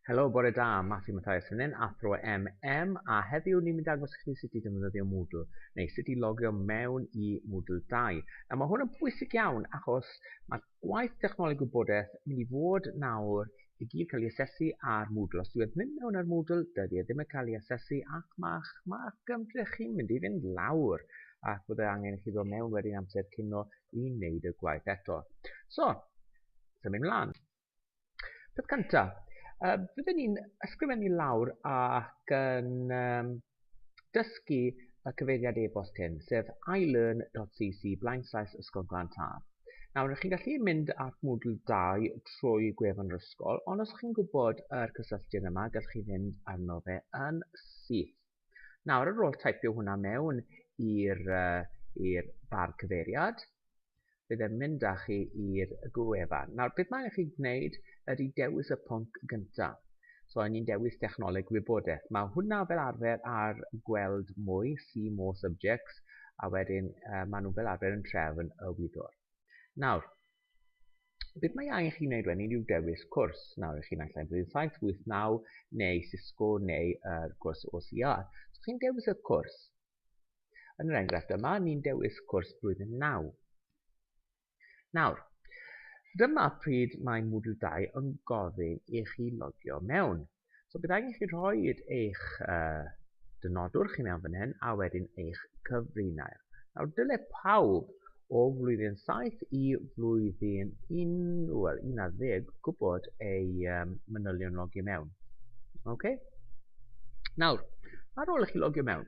Helo, bore da, Matthew Matthias fan hyn, athro MM, a heddiw ni'n mynd agos i chi sut i defnyddio Moodle, neu sut i logio mewn i Moodle 2. Nawr mae hwn yn bwysig iawn achos mae gwaith technoleg gwybodaeth yn mynd i fod nawr i gyd cael ei asesu ar Moodle. Os dwi wedi mynd mewn ar Moodle, dydy e ddim yn cael ei asesu ac mae'ch ma gymdrech chi'n mynd i fynd lawr ac bydd e angen i chi ddod mewn wedyn amser cino i wneud y gwaith eto. So, symud mlaen. Peth cynta, yy fydden ni'n ysgrifennu lawr ac yn um, dysgu y cyfeiriad e-bost hyn, sef ilearn.cc blaenslaes Ysgol Glan Taf. Nawr, ydych chi'n gallu mynd at Moodle 2 trwy gwefan yr ysgol, ond os chi'n gwybod yr cysylltiad yma, gallwch chi fynd arno fe yn syth. Nawr ar ôl taipio hwnna mewn i'r uh, bar cyfeiriad, bydd e'n mynd â chi i'r gwefan. Nawr, beth mae'n chi gwneud ydy dewis y pwnc gyntaf. So, ni'n dewis technoleg wybodaeth. Mae hwnna fel arfer ar gweld mwy, see more subjects, a wedyn uh, maen nhw fel arfer yn trefn y wyddor. Nawr, Beth mae angen chi wneud wedyn yw dewis cwrs. Nawr, ych chi'n naill ai bryd 789 neu Cisco neu yr cwrs OCR. So chi'n dewis y cwrs. Yn yr enghraifft yma, ni'n dewis cwrs blwyddyn 9. Nawr, dyma pryd mae Moodle 2 yn gofyn i chi logio mewn. So bydd angen chi rhoi eich uh, dynodwr chi mewn fan hyn a wedyn eich cyfrinair. Nawr dyle pawb o flwyddyn 7 i flwyddyn 11 gwybod ei um, manylion logio mewn. OK? Nawr, ar ôl i chi logio mewn,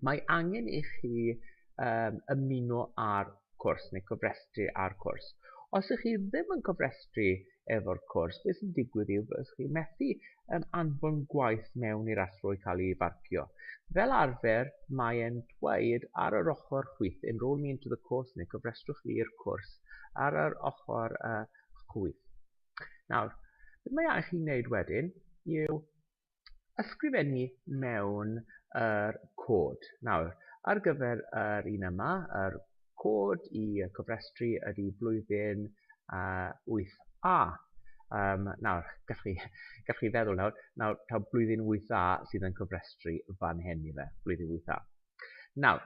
Mae angen i chi um, ymuno â'r cwrs neu cofrestru â'r cwrs. Os ych chi ddim yn cofrestru efo'r cwrs, beth sy'n digwydd yw bod chi methu um, anfon gwaith mewn i'r athro i cael ei farcio. Fel arfer, mae'n dweud ar yr ochr chwith, enrol me into the course neu cofrestrwch fi i'r cwrs, ar yr ochr uh, chwith. Nawr, beth mae angen chi wneud wedyn yw ysgrifennu mewn yr cod. Nawr, ar gyfer yr un yma, yr cod i cofrestru ydy blwyddyn uh, 8A. Um, nawr, gallwch chi, gallwch chi feddwl nawr, nawr taw blwyddyn 8A sydd yn cofrestru fan hyn i fe, blwyddyn 8A. Nawr,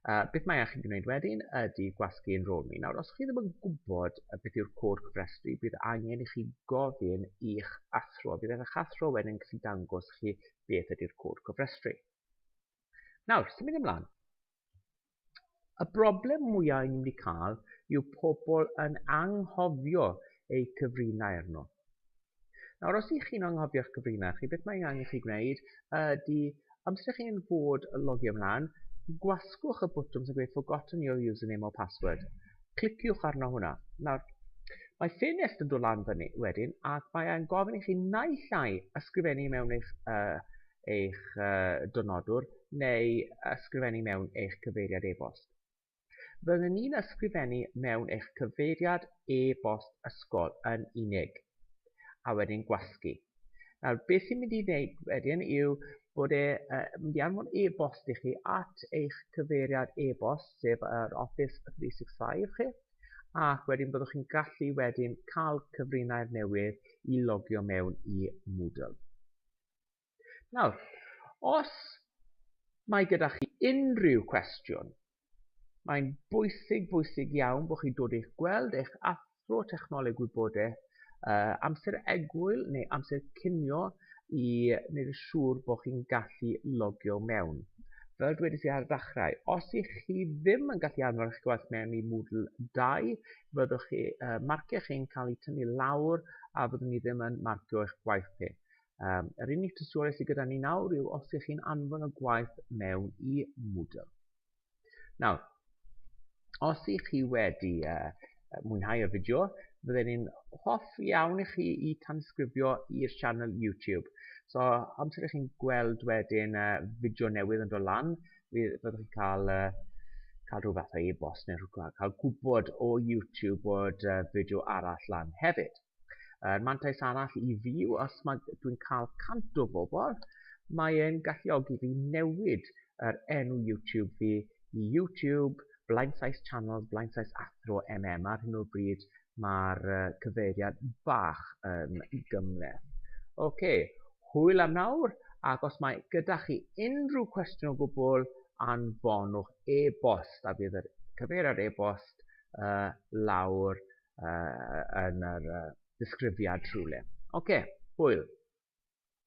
Uh, beth mae chi'n gwneud wedyn ydy gwasgu yn rôl mi. Nawr, os chi ddim yn gwybod beth yw'r cod cyfrestru, bydd angen i chi gofyn i'ch athro. Bydd eich athro wedyn gallu dangos chi beth ydy'r cod cyfrestru. Nawr, sy'n mynd ymlaen. Y broblem mwyaf ni'n mynd i cael yw pobl yn anghofio eu cyfrinau arno. Nawr, os ydych chi'n anghofio'ch cyfrinach chi, beth mae angen chi gwneud ydy, amser chi'n fod logio ymlaen, gwasgwch y bwtwm sy'n gweud forgotten your username or password. Cliciwch arno hwnna. Nawr, mae ffenest yn dod lan fyny wedyn ac mae e'n gofyn i chi naill ai ysgrifennu mewn eich, uh, eich uh, dynodwr neu ysgrifennu mewn eich cyfeiriad e-bost. Fydden ni'n ysgrifennu mewn eich cyfeiriad e-bost ysgol yn unig, a wedyn gwasgu. Nawr, beth sy'n mynd i wneud wedyn yw bod e yn mynd i anfon e-bost i chi at eich cyfeiriad e-bost, sef yr Office 365 chi, ac wedyn byddwch chi'n gallu wedyn cael cyfrinair newydd i logio mewn i Moodle. Nawr, os mae gyda chi unrhyw cwestiwn, mae'n bwysig, bwysig iawn bod chi'n dod i'ch gweld eich athro technoleg wybodaeth uh, amser egwyl neu amser cinio i wneud yn siŵr bod chi'n gallu logio mewn. Fel dwedais i ar y ddechrau, os ych chi ddim yn gallu anfon eich gwaith mewn i Moodle 2, fyddwch chi, uh, marciau chi'n cael eu tynnu lawr a fyddwn ni ddim yn marcio eich gwaith chi. Um, yr unig tystiolaeth sydd gyda ni nawr yw os ych chi'n anfon y gwaith mewn i Moodle. Nawr, os ych chi wedi uh, mwynhau y fideo, fydden ni'n hoff iawn i chi i tansgrifio i'r sianel YouTube. So, amser ych chi'n gweld wedyn uh, fideo newydd yn dod lan, fyddwch chi'n cael, uh, cael rhyw fath o e-bost neu rhywbeth, cael gwybod o YouTube bod uh, fideo arall lan hefyd. Er mantais arall i fi yw os mae dwi'n cael 100 o bobl, mae e'n galluogi fi newid yr enw YouTube fi i YouTube Blaensies Channels Blaensies Athro MM. Ar hyn o bryd mae'r cyfeiriad bach yn gymhleth. Ok, hwyl am nawr ac os mae gyda chi unrhyw cwestiwn o gwbl anfonwch e-bost a bydd yr cyfeiriad e-bost uh, lawr uh, yn yr uh, disgrifiad rhywle. Oce, okay, hwyl.